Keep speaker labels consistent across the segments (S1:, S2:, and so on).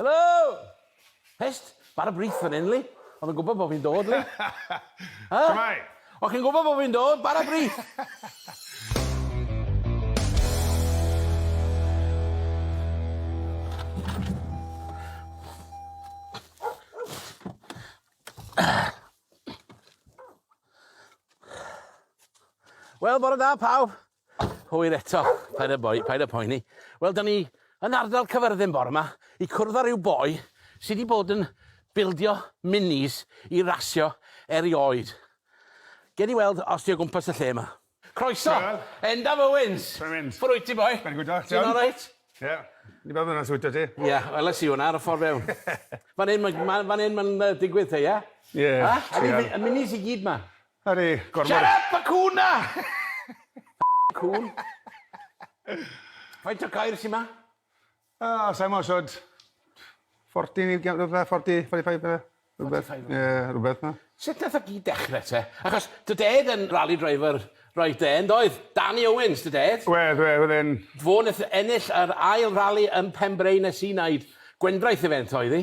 S1: Helo! Hest, mae'r y brith fan hyn, li. Oedd yn gwybod bod fi'n dod, li. Ha? Shwmai? Oedd chi'n gwybod bod fi'n dod, bara brith! Wel, bore da, pawb. Hwyl eto. Paid â boi- paid â poeni. Wel, 'dan ni yn ardal Cyfyrddin bore 'ma i cwrdd â ryw boi sy 'di bod yn bildio minis i rasio erioed. Gewn ni weld os 'di o gwmpas y lle 'ma. Croeso! Hwyl. Endaf Owens! Shwmae mynd? Ffwr wyt ti boi? Fe'n gwd diolch, John. Ti'n oreit? Ie. Ni ba myn' yn siwt 'da ti? Ie, weles i wnna ar y ffor fewn. Fan 'yn ma' ma' fan 'yn ma'n yy digwydd te ie? Ie, treial. A? Ydi mi- y minis i gyd 'ma? Ar ei gormod... Shut up y cŵn 'na! Ffycin cŵn. Faint o gair sy 'ma? O sai'm os od 40 neu giam- rwbeth 40 45 bydde. Rwbeth. 45 Ie rwbeth fel 'na. Sut nath o gyd dechre te? Achos dy dad yn rali driver roedd e yndoedd? Danny Owens dy dad. Wedd wedd wedd e'n... Fo neth ennill yr ail rali yn Penbrae nes i neud gwendraeth i fe yn toedd i.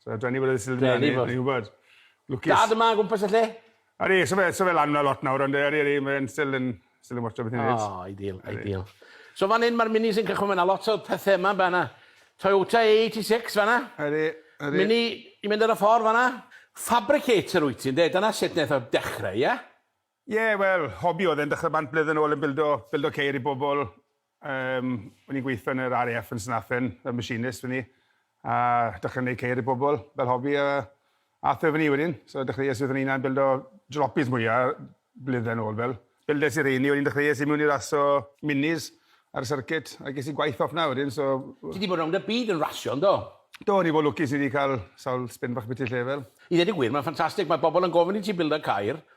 S1: So, dwi ni bod yn sylwi ni, ni'n gwybod. Lwcus. Dad yma, gwmpas y lle. Ydy, so fe, so fe lan yna lot nawr, ond ydy, ydy, mae'n still yn, still yn watcha beth i'n neud. O, ideal, ideal. So fan hyn mae'r minis yn cychwyn fanna, lot o pethau yma fanna. Toyota A86 fanna. Ydy, ydy. Mini i mynd ar y ffordd fanna. Fabricator wyt ti, ynddi? Dyna sut wnaeth o dechrau, ie? Ie, wel, hobi oedd e'n dechrau bant blwyddyn yn ôl yn bildo, bildo ceir i bobl. Yym, o'n i'n gweithio yn yr RAF yn Snaphen, fel machinist o'n i, a dechrau wneud ceir i bobl, fel hobi, a ath e fyny wedyn. So dechreuais i fy hunan bildo jalopies mwya, blwyddau yn ôl fel. Bildes i reini, wedyn dechreuais i mewn i raso minis ar y circuit, a ges i gwaith off 'na wedyn, so... Ti 'di bod rownd y byd yn rasio, yn do? Do, o'n i fod lwcus i 'di cael sawl spin bach biti lle fel. I ddeud y gwir, mae'n ffantastig, mae bobl yn gofyn i ti bildo ceir,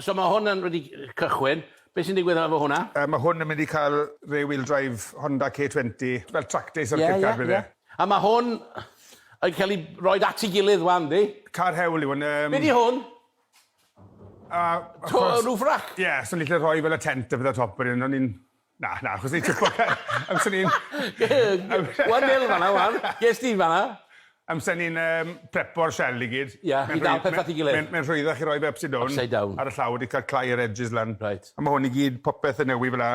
S1: So ma' hwn yn wedi cychwyn. Be' sy'n digwydd efo hwnna? Yy ma' hwn yn mynd i ca'l rear wheel drive Honda K twenty, fel track day circuit car bydd e. Ie ie ie. A ma' hwn yn ca'l 'i roid at 'i gilydd ŵan yndi? Car hewl yw hwn yym. Be' 'di hwn? A wrth gwrs... Roof rack? Ie so ni 'llu rhoi fel y tent a pethe ar top wedyn o'n i'n Na, na, achos ni'n twpo car. Amser ni'n... Wan nil fanna, wan. Ges di fanna. Amser ni'n um, prepo'r shell i gyd. Ia, i dal peth at ei gilydd. Mae'n rhwyddach i roi fe upside down. Upside down. Ar y llaw wedi cael clai yr edges lan. Right. A mae hwn i gyd, popeth yn newy fel la.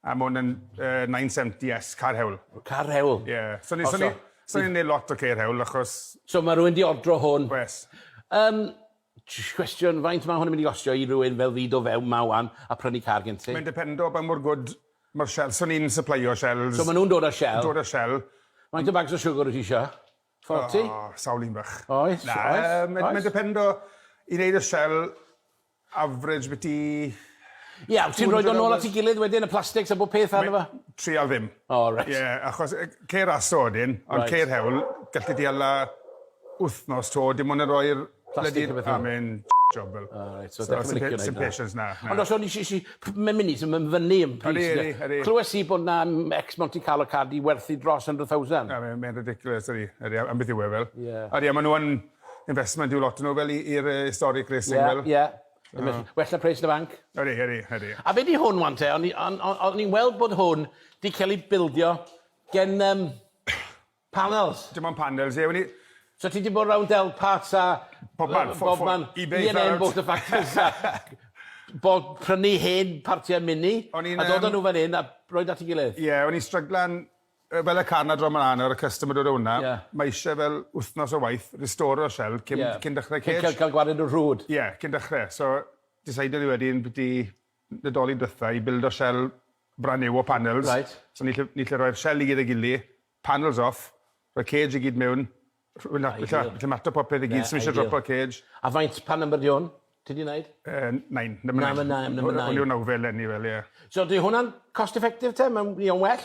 S1: A mae hwn yn uh, 970S, car hewl. Car hewl? Ie. Yeah. So ni'n so ni, so ni neud lot o ceir hewl, achos... So mae rhywun di ordro hwn? Wes. Um, Cwestiwn, faint mae hwn yn mynd i gostio i rywun fel fi do fewn 'ma 'wan a prynu car gen ti? Mae'n dependo pa mor gwd ma'r shells. So ni'n sypleio shells. So ma' nhw'n dod â shell? Dod â shell. Faint o bags o siwgr wyt ti isio? Forty? O, sawl un bach. Oes, oes, oes. Na, mae'n dependo, i wneud y shell, average biti... Ie, wyt ti'n rhoid o nôl at ei gilydd wedyn, y plastics a bob peth arno fo? Treial ddim. O reit. Ie, achos ceir aso wedyn, ond ceir hewl, galli di hala wthnos to dim ond yn rhoi'r blydi a myn jobl. O reit so dechre licio neud 'na. Sim patience 'na. Ond os o'n i si si mae'n myn' i so ma'n fynnu yn pris ynde? Ydi ydi ydi. Clywes i bod 'na ex Monte Carlo car 'di werthu dros hundred thousand. Na mae mae'n ridiculous ydi ydi am beth yw e fel. Ie. Ydi a ma' nw yn investment yw lot o nw fel i i'r yy historic racing fel. Ie ie. Ie ma' well na pres yn y banc. Ydi ydi ydi. A be' 'di hwn ŵan te o'n i on- o- o'n i'n weld bod hwn 'di ca'l 'i bildio gen yym Panels? Dim ond panels, ie. Wen i... So ti 'di bod rownd del parts a... Bobman. Bobman. Ebay. E&M Motor Factories a bod... prynu hen partiau Mini... O'n i'n yym... ...a dod â nhw fan hyn a rhoi nhw at ei gilydd. Ie, o'n i'n stryglan yy fel y car 'na draw mlan nawr, y customer dod â hwnna... Ie. ...ma' isie fel wythnos o waith, restore'r shell cyn... Ie. ...cyn dechrau cage. Cyn cael cael gwared nhw'n rhwd. Ie, cyn dechrau. So, decidon ni wedyn 'byti Nadolig dwetha i bildo sel brand new o panels. Reit. So ni 'llu ni 'llu roi'r sel i gyd ei gily, panels off, roi cage i gyd mewn, rh- wy- na- ni 'llu ni 'llu mato popeth i gyd, sdim isie dropo'r cage. A faint, pa number 'di hwn, ti 'di neud? Yy nine, number nine. Number nine, number nine. Hwn yw'r nawfed eleni, wel ie. So 'di hwnna'n cost effective te? Ma'n, mae o'n well?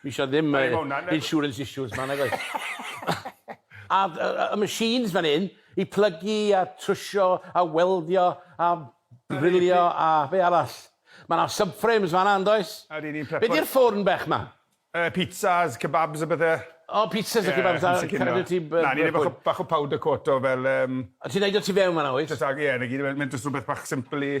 S1: Dwi isio ddim yy insurance issues 'ma nag oes? A y y y machines fan 'yn i plygu a trwsio a weldio a ddrilio a be' arall? Ma' 'na subframes fan 'na yndoes? A ry'n ni'n prepo... Be' 'di'r ffwrn bech 'ma? Yy pizzas, kebabs a bethe. O pizzas a kebabs a cadw ti b- yy... Na ni neud bach o bach o powder coat o fel yym... A ti'n neud o tu fewn fan 'na wyt? Jyst ag- ie 'na gyd yw e. Mae'n jyst rwbeth bach simple i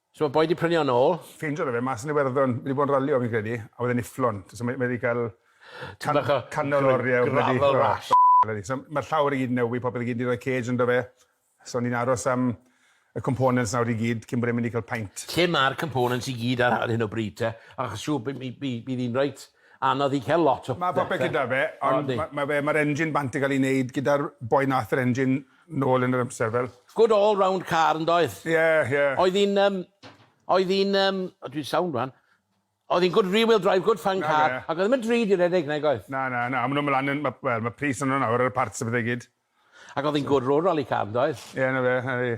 S1: So mae boi di prynu o nôl? Ffeindio fe mas yn Iwerddon. Mae di bod yn ralio fi'n credu a wedd e'n ufflon. So mae wedi cael can- canol o oriau o blydi... Gravel rash. So mae'r llawr i gyd yn newi, popeth i gyd, ni roi cage ynddo fe. So ni'n aros am y components nawr i gyd cyn bod e'n mynd i cael paint. Lle ma'r components i gyd ar hyn o bryd te? Achos siŵr by- mi- by- bydd hi'n reit anodd i cael lot o bethe. Ma' popeth gyda fe ond ma' ma' fe ma'r engine bant yn cael ei neud gyda'r boi nath yr engine nôl yn yr amser fel. Good all round car yndoedd? Ie ie. Oedd hi'n yym oedd hi'n yym o dwi'n sownd wan. Oedd hi'n good rear wheel drive good fun car ac oedd e ddim yn drud i redeg nag oedd? Na na na ma' nhw'n mynd lan yn ma' wel ma' pris arno nawr ar y parts a pethe i gyd. Ac oedd hi'n good road rally car yndoedd? Ie na fe.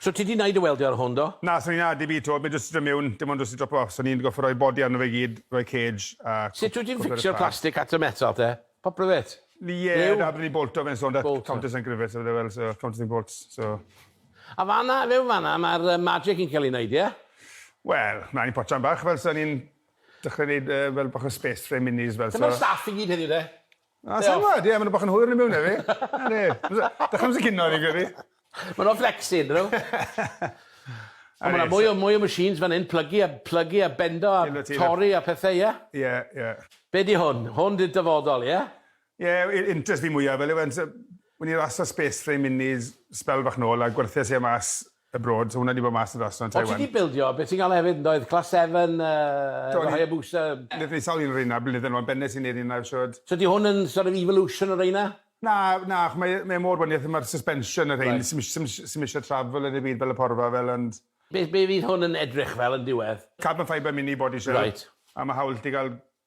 S1: So ti di neud y weldio ar hwn do? Na, swn i'n added fi to, mae jyst do mewn, dim ond jyst i dropo off, so ni'n gorfod rhoi body arno fe i gyd, rhoi cage a... Sut wyt ti'n ffixio'r plastic at y metal te? Popeth wyt? Ie, da, byddwn ni'n bolto fe'n so, da, countersink rivets a pethau fel, so countersink bolts, so. A fanna, mewn fanna, mae'r magic yn cael ei neud, ie? Wel, mlaen i potsian bach, fel so ni'n dechrau neud fel bach o space for ein minis, fel so. Dyma'r staff i gyd heddiw de? Na, sa'n gwybod, ie, maen nhw bach yn hwyr yn y mewn efi. Na, ne, dych chi'n sy'n cynno, ni'n gwybod. Maen nhw'n flexi, dyn nhw. Ond maen nhw'n mwy o machines fan hyn, plygu a bendo a torri a pethau, ie? Ie, ie. Be di hwn? Hwn di'r dyfodol, ie? Ie, interest fi mwyaf, fel yw e'n... Wn i rhas o space frame minis, sbel bach nôl, a gwerthias i e mas abroad so hwnna 'di bod mas yn Rhostr yn Taiwan. O ti 'di bildio be ti'n galw hefyd yndoedd? Class seven yy efo Hayabusa. Nethon ni sawl un o reina blynydde nôl yn benne sy'n neud reina siŵr. So 'di hwn yn sort of evolution o reina? Na na ach mae mae e mor wanieth a ma'r suspension a rhein sim ish- sim ish- sim isie travel yn y byd fel y porfa fel ond... Be be fydd hwn yn edrych fel yn diwedd? Carbon fibre mini body shell. Reit. A ma' hawl 'da ti ga'l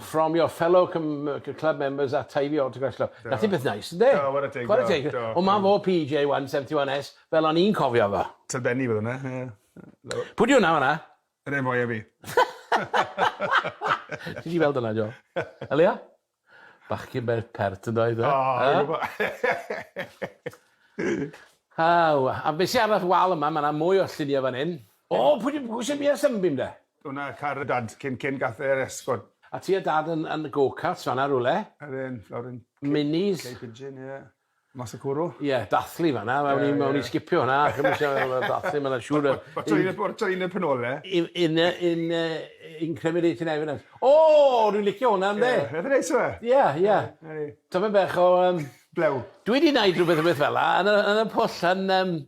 S1: from your fellow club members at time your autograph club. Nath hi beth neis, ynde? Do, ware teg, ware teg. O, ma fo PJ 171S, fel o'n i'n cofio fo. Tyl Benny fyddo na, ie. Pwy di hwnna fanna? Yr un fwya fi. Ti di weld hwnna, Jo? Elia? Bachgyn beth pert yn doedd, e? O, Aw, a be sy ar wal yma, ma na mwy o llunie fan hyn. O, pwy di, pwy sy'n biau Sunbeam de? O na, car y dad, cyn, cyn gath e'r esgort. A ti a dad yn, yn go-karts fanna rywle? Ydyn, lawr yn... Minis? Cape Pigeon, ie. Mas y cwrw? Ie, dathlu fanna, yeah, yeah. o'n i'n sgipio hwnna, ac yn eisiau dathlu, mae'n siŵr... O'r train y penole? In, in, in, in cremulating evidence. O, dwi'n licio hwnna, ynddi? Ie, rhaid yn neis yma? Ie, ie. Tafod bech o... Um, Blew. Dwi wedi gwneud rhywbeth rhywbeth fel la, yn y, yn y pwll yn, um,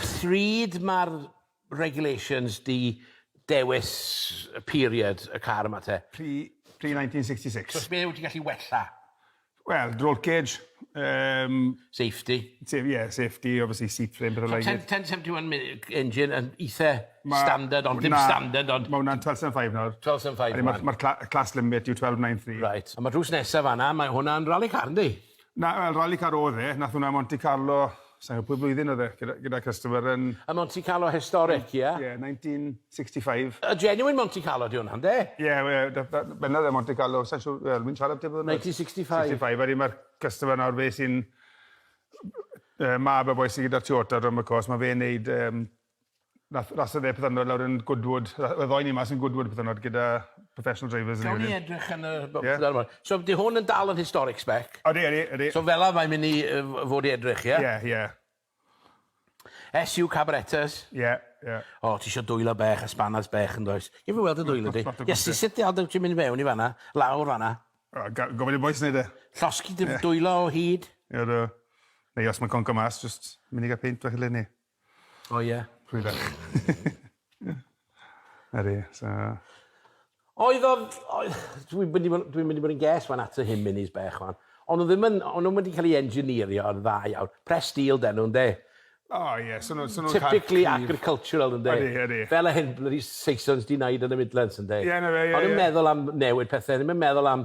S1: Pryd mae'r regulations 'di dewis y period y car yma te? Pre, pre 1966. So be wyt ti'n gallu wella? Wel, roll cage, yym... Safety. Sef- ie, safety, obviously seat frame, petha like it. 10, 1071 mi- engine yn eitha standard ond dim standard ond... Ma' hwnna'n 1275 nawr. 1275 rwan. Ma'r cla- class limit yw 1293. Reit, a ma' drws nesa fanna, mae hwnna'n rally car yndi? Na, wel, Rali Car oedd e. Nath hwnna ym Monte Carlo, sai'n gwbod pwy blwyddyn oedd e, gyda gyda customer yn... Y Monte Carlo historic, ie? Ie, 1965. Y genuine Monte Carlo 'di hwnna, ynde? Ie, we- da- da- benda oedd e Monte Carlo, sai'n siŵr, wel, wi'n siarad tybed... 1965. 65, wedyn ma'r customer nawr, fe sy'n yy mab y boi sy gyda'r Toyota drom y cwrs, ma' fe'n neud yym Nath rasa dde pythynod lawr yn Goodwood. Oedd y ddoi ni mas yn Goodwood pythynod gyda professional drivers. Gawn ni edrych yn y yeah. One. So di hwn yn dal yn historic spec? Odi, odi, odi. So fel mae'n mynd i fod i edrych, ie? Yeah? Ie, yeah, ie. SU Cabaretas? Ie, yeah, ie. Yeah. O, ti eisiau dwylo bech a spanas bech yn does? Ie, fi weld y dwylo di. Ie, si sut di aldo ti'n mynd i fewn i fanna? Lawr fanna? Gofyn i boes wneud e. Llosgi dim dwylo o hyd? Ie, do. Neu os mae'n conco mas, just mynd i gael peint bach i le ni. O ie. Rwy ferch. Ydi so. Oedd o oedd... Dwi wedi bod dwi'n mynd i bod yn ges fan at y hyn minis bech wan. O'n nhw ddim yn o'n nhw'm wedi cael ei engineerio yn dda iawn. Press steel 'den nhw ynde? O ie so nhw so nhw'n cael... Typically agricultural ynde? Ydi ydi. Fel y hyn bloody Saesons 'di neud yn y Midlands ynde? Ie na fe ie ie. O'n i'n meddwl am newid pethe o'n i'm yn meddwl am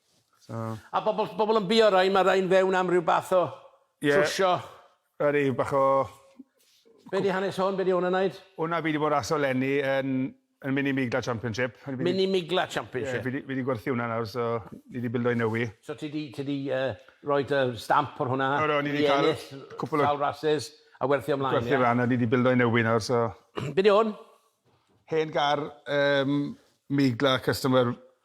S1: So... A bobl bobl yn bio rai ma' rai'n fewn am ryw bath o... Ie. ...trwsio. A ryw bach o... Be' 'di hanes hwn be' 'di 'wn yn neud? Wnna fi 'di bod raso leni yn yn mini migla championship. Mini migla championship? Ie fi 'di fi 'di gwerthu wnna nawr so ni 'di bildo un newy. So ti 'di ti 'di yy roi dy stamp ar hwnna? O do ni 'di ca'l cwpwl o... ...di ennill sawl rasus a werthu o mlaen ie? Gwerthu e lan a ni 'di bildo un newy nawr so. Be' 'di 'wn? Hen gar yym migla customer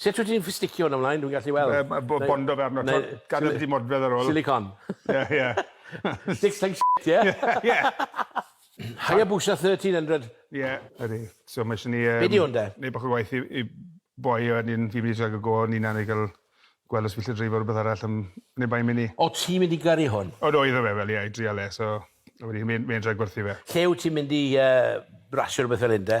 S1: Sut wyt ti'n ffisticio hwn ymlaen, dwi'n gallu weld? Yy bo- bondo fe arno t'wod gadel byti modfedd ar ôl. Silicone. Ie ie. Sticks like shit ie? Ie. Hayabusa 1300. Ie ydi so ma' isie ni yym... Be' 'di hwn de? Neud bach o waith i i boi a wedyn fi'n myn' i trial ga'l go o'n unan i ga'l gweld os fi 'llu dreifo rwbeth arall yym ne' bai mini. O' ti'n mynd i gyrru hwn? O do iddo fe wel ie i drial e so a wedyn fi myn' myn' i trial gwerthu fe. Lle wyt ti'n mynd i yy rasio rwbeth fel 'yn de?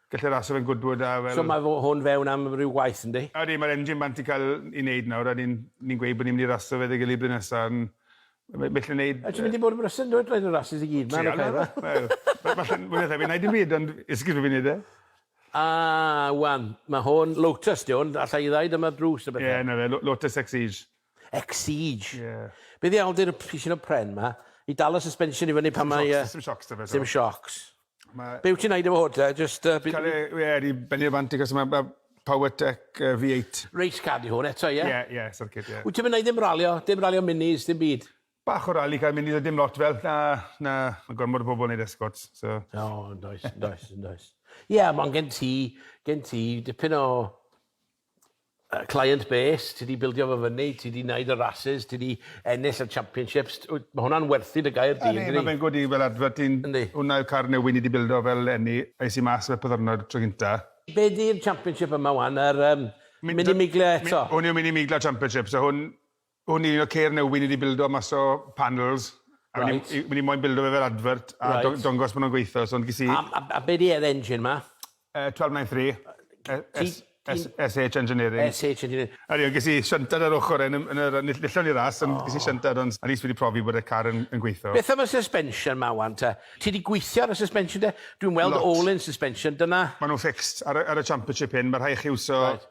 S1: Gall e rasio fe'n gwdwd a fel... So ma' fo- hwn fewn am ryw waith yndi? Odi ma'r engine bant i ca'l 'i neud nawr a ni'n ni'n gweud bo' ni myn' i rasio fe 'da 'i gily blwyddyn nesa yn ma' ma' 'llu neud yy... A ti mynd i bod yn brysur yndwt roid y rasys i gyd ma' yn y car 'ma? Wel ma' ma' llyn- mwy na thebyg 'nai dim byd ond esgus bo' fi'n neud e. A ŵan ma' hwn Lotus 'di 'wn allai ddeud am y drws a bethe. Ie 'na fe Lo- Lotus Exige. Exige. Ie. Be ddiawl di'r p- pisin o pren ma? I dal y suspension i fyny pan mae yy... Sdim siocs 'da fe 'to. Sdim siocs. Ma'... Be wyt ti'n neud efo hwn te? Jyst yy... Cael e ie i bennu'r bant i gysma ma' Powertec yy V8. Race car di hwn eto ie? Ie ie circuit ie. Wyt ti'm yn neud ddim ralio? Dim ralio minis dim byd? Bach o rali car minis a dim lot fel na na ma' gormod o bobl neud escorts so... O yndoes yndoes yndoes. Ie ma' gen ti gen ti dipyn o client base, ti 'di bildio fo fyny, ti 'di neud y races, ti 'di ennill y championships, wyt, ma' hwnna'n werthu dy gair di, yndydi? Yndi, ma' fe'n good i, fel adfer ti'n... Yndi. Hwnna yw'r car newydd ni 'di bildo fel eni, es i mas fel pyddyrnod tro gynta. Be' di'r championship yma ŵan, yr yym Mini Miglia eto? Hwn yw'r Mini Miglia Championship, so hwn, O'n i'n un o ceir newydd ni 'di bildo mas o panels. Reit. O'n i o'n i moyn bildo fe fel advert a... Reit. ...do- dongos bo' nw'n gweitho so ond ges i... A a a be' 'di e'r engine 'ma? Yy twelve nine three. Yy ti ti'n... S- S- SH Engineering. SH Engineering. O'n i on' ges i siantad ar ochor e yn y yn yr yn ill- illon i ras ond... O. ...ges i siantad ond at least fi 'di profi bod y car yn yn gweitho. Beth am y suspension 'ma ŵan te? Ti 'di gwithio ar y suspension 'de? Dwi'n weld... Lot. ...all in suspension dyna... Ma' nw'n fixed ar y ar y championship hyn ma' rhai' chi iwso... Reit.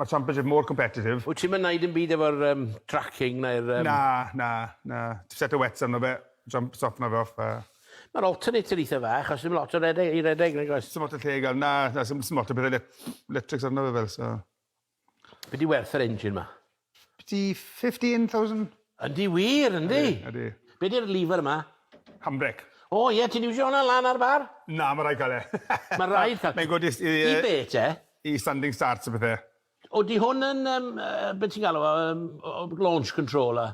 S1: Mae'r Championship mor competitive. Wyt ti'm yn neud dim byd efo'r um, tracking neu'r... Um... Na, na, na. Ti'n set y wets arno fe, jump stop na roff. A... Mae'r alternator eitha fach, os ddim lot o redeg, i redeg, nag oes? Sim lot o lle i gael, na, na, sim, sim lot o bethau electrics arno fe fel, so... Be di werth yr engine ma? Fifty fifteen thousand? Yndi wir yndi? Ydi ydi. Be di'r lever yma? Handbrake. O ie ti'n iwsio hwnna lan ar bar? Na ma raid ca'l e. Ma raid ca'l. Mae'n good i s- i yy... I be te? I standing starts a pethe. O 'di hwn yn yym yy be ti'n galw o yym o launch control a?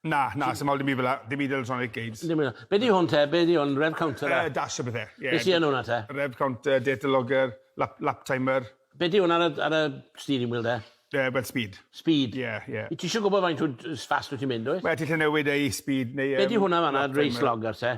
S1: Na, na, sdim hawl dim byd fel 'na. Dim byd electronic games. Dim byd fel 'na. Be' 'di hwn te? Be' 'di hwn? Rev counter a? Yy dash a bethe, ie. Be' sy yn wnna te? Rev counter, data logger, lap lap timer. Be' 'di hwn ar y ar y steering wheel de? Yy wel speed. Speed? Ie, ie. Wyt ti isie gwbod faint wyt yy fast wyt ti'n mynd wyt? Wel ti 'llu newid e i speed neu yym... Be' 'di hwnna fan 'na, race logger te?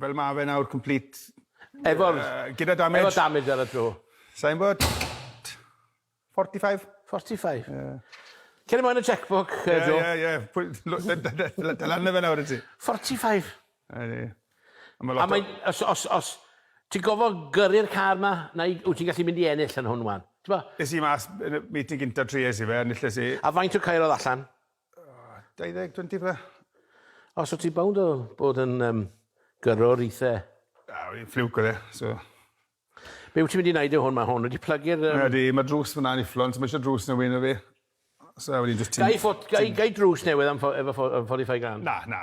S1: Fel ma fe nawr complete. Efo'r... Gyda damage. Efo damage ar y tro. Sai'n gwbod. Forty five. Forty five? Ie. Cer ymlaen y cheque-book yy Joe. Ie ie ie pwy l- dal arno fe nawr wyt ti. Forty five. Ydi. A ma' lot o... A mae'n os os os ti'n gofo gyrru'r car ma nai wyt ti'n gallu mynd i ennill yn hwn ŵan t'bo? Es i mas yn y meeting gynta trues i fe a nilles i. A faint o caeodd allan? 20, 20 fle. Os wyt ti bownd o bod yn um, gyrrwr eitha... A, fi'n ffliwc oedd e, so... Be wyt ti'n mynd i wneud o hwn? Mae hwn wedi plygu'r... Um... Mae, di, mae drws fyna'n ufflon, so mae eisiau drws newydd na fi. So, wedi just... Gai, ffot, gai, gai drws newydd am efo 45 grand? Na, na.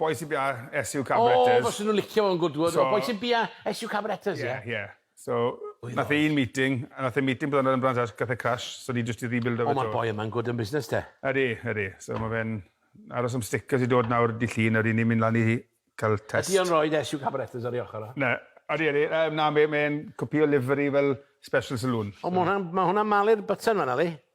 S1: Bois y Biau, SU Cabareters. O, fysen nhw'n licio fo'n gwd gwd. O, Bois y Biau, SU Cabareters, ie? Ie, ie. So, nath e un meeting, a nath e meeting bod yn branch arall, gath e crash, so ni jyst di rebuildo fe to. O, ma'r boi yma'n gwd yn busnes te. Ydi, ydi. So, ma fe'n aros am stickers i dod nawr di Llun, a ry'n ni'n mynd lan i cael test. Ydi o'n rhoid SU Cabareters ar ei ochr o? Na, ydi, ydi. Na, mae'n cwpio livery fel special saloon. O, ma hwnna'n malu'r button fanna, ydi?